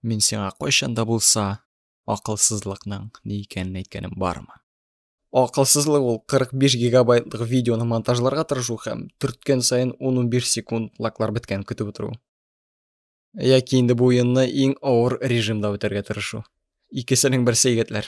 Мин сиңа кайчан да булса акылсызлыкның ни икәнен әйткәнем бармы? Акылсызлык ул 45 гигабайтлык видеоны монтажларга тырышу һәм төрткән саен 10-15 секунд лаклар беткән көтеп утыру. Яки инде бу уенны иң авыр режимда үтәргә тырышу. Икесенең берсе егетләр.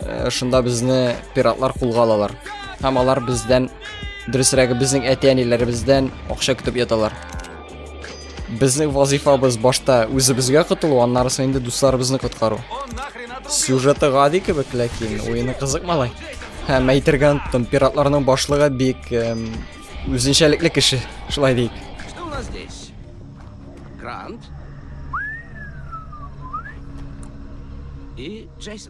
э, шунда безне пиратлар кулга алалар. Һәм алар бездән, дөресрәге безнең әти-әниләребездән акча көтеп яталар. Безнең вазифабыз башта үзебезгә котылу, аннары соң инде дусларыбызны коткару. Сюжеты гади кебек, ләкин уены кызык малай. Һәм әйтергә оныттым, пиратларның башлыгы бик эм, үзенчәлекле кеше, шулай дик. Что у нас здесь? Грант? И Джейсон.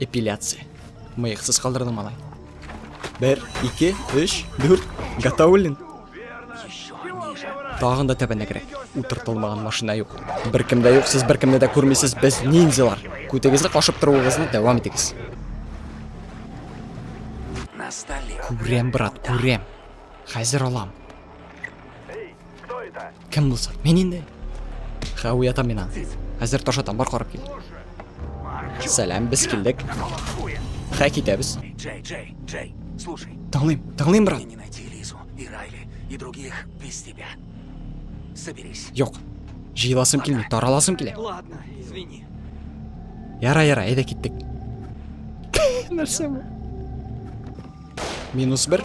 Эпиляция. Мыйксыз калдырдың, малай. Бер, ике, өч, дүрт. Готовлен. Тагын да тәбәнәгрәк. Утыртылмаган машина юк. Бер кемдә юк, сез бер кемне дә күрмисез, без ниндзялар. Күтегезне кашып торуыгызны дәвам итегез. Күрәм, брат, күрәм. Хәзер алам. Кем булса? Мин инде. Ха, уятам мина. Хәзер таш атам, бар карап кил. Сәлам, без килдек. Ха, китәбез. Джей, Джей, Джей, слушай. Тыңлыйм, тыңлыйм, брат. Не найти Лизу и Райли и других без тебя. Соберись. Юк. Җыеласым килми, тараласым килә. Ладно, извини. Яра, яра, әйдә киттек. Нәрсә бу? Минус бер.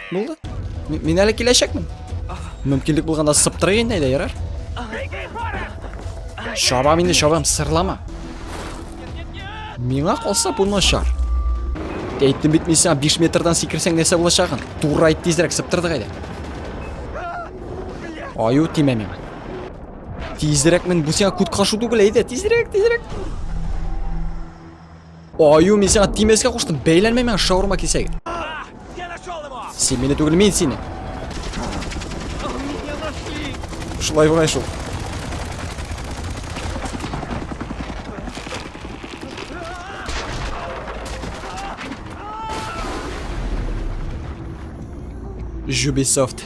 Булды. Мин әле киләчәкмен. Мөмкинлек булганда сыптырык инде әйдә ярар. Шабам инде шабам, сырлама. Миңа калса бу начар. Әйттем бит мин сиңа 5 метрдан сикерсәң нәрсә булачагын. Туры айт тизрәк сыптырдык әйдә. Аю тимә миңа. Тизрәк мин бу сиңа күт кашу түгел әйдә, тизрәк, тизрәк. Аю, мин сиңа тимәскә куштым. Бәйләнмә миңа шаурма кисәге. Син мине түгел, мин сине. Шулай бугай шул. Ubisoft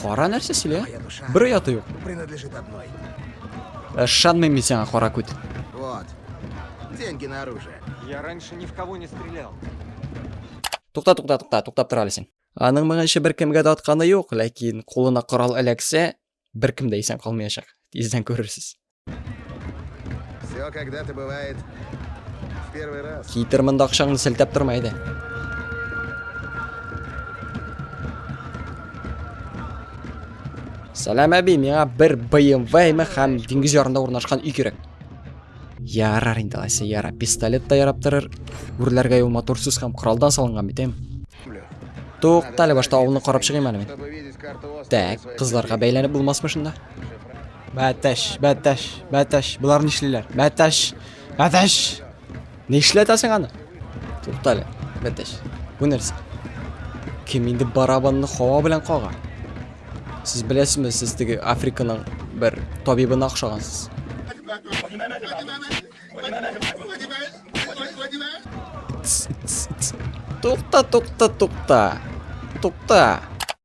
Кара нәрсә сөйлә? Бер ояты юк. Ышанмыйм мин сиңа, кара күт. Вот. Деньги на оружие. Я раньше ни в кого не стрелял. Тукта, тукта, тукта, туктап тора әле Аның моңа ише беркемгә дә атканы юк, ләкин кулына корал эләксә, беркем дә исән калмаячак. Тиздән күрерсез. Все когда-то бывает в первый раз. Китер монда акчаңны селтәп торма иде. Сәлам әби, миңа бер BMW ме һәм диңгез ярында урнашкан өй кирәк. Ярар инде алайса, яра. Пистолет та ярап торыр. Үрләргә юл моторсыз һәм коралдан салынган бит, Туктале, башта авылны карап чыгыйм әле мин. Так, кызларга бәйләнеп булмасмы шунда? Бәтәш, бәтәш, бәтәш. Болар нишлиләр? Бәтәш, бәтәш. Нишләтәсең аны? Туктале, бәтәш. Бу нәрсә? Кем инде барабанны хава белән кага? Сез беләсезме, сез теге Африканың бер табибына охшагансыз. Тукта, тукта, тукта. Тукта.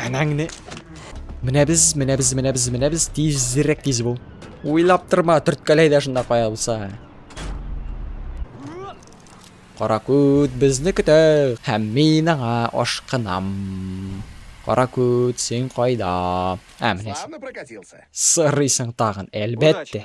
Әнәң не? Менә без, менә без, менә без, менә без тизрәк тиз бул. Уйлап торма, төрткәләй дә шунда кая булса. Каракүт безне көтә һәм мин аңа ашкынам. Каракүт, син кайда? Ә, менә. Сырыйсың тагын, әлбәттә.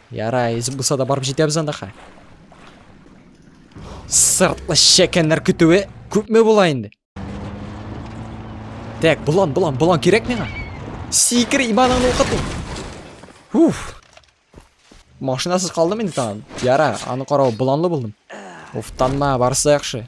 Ярай, эз булса да барып җитәбез анда хә. Сыртлы шәкәннәр көтүе күпме була инде? Так, болан, болан, болан кирәк миңа. Сикер иманыңны укыту. Уф. Машинасыз калдым инде тагын. Яра, аны карау боланлы булдым. Уфтанма, барсы яхшы.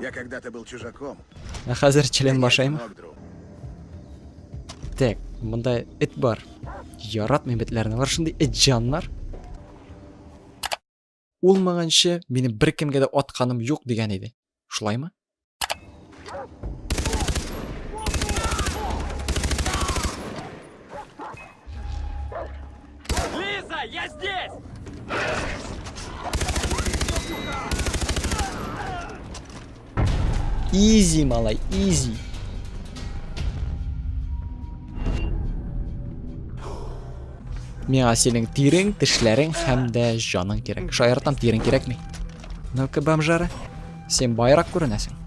Я когда-то был чужаком. Ә хәзер член башаймы? Так, монда эт бар. Яратмыйм этләрне. Алар шундый эт җаннар. Улмаганчы минем бер кемгә дә атканым юк дигән иде. Шулаймы? Лиза, я здесь! Изи, малай, изи. Миңа синең тирең, тешләрең һәм дә җаның кирәк. Шаяртам тирең кирәкми. Ну-ка, бомжара. Сен байрак күренәсең.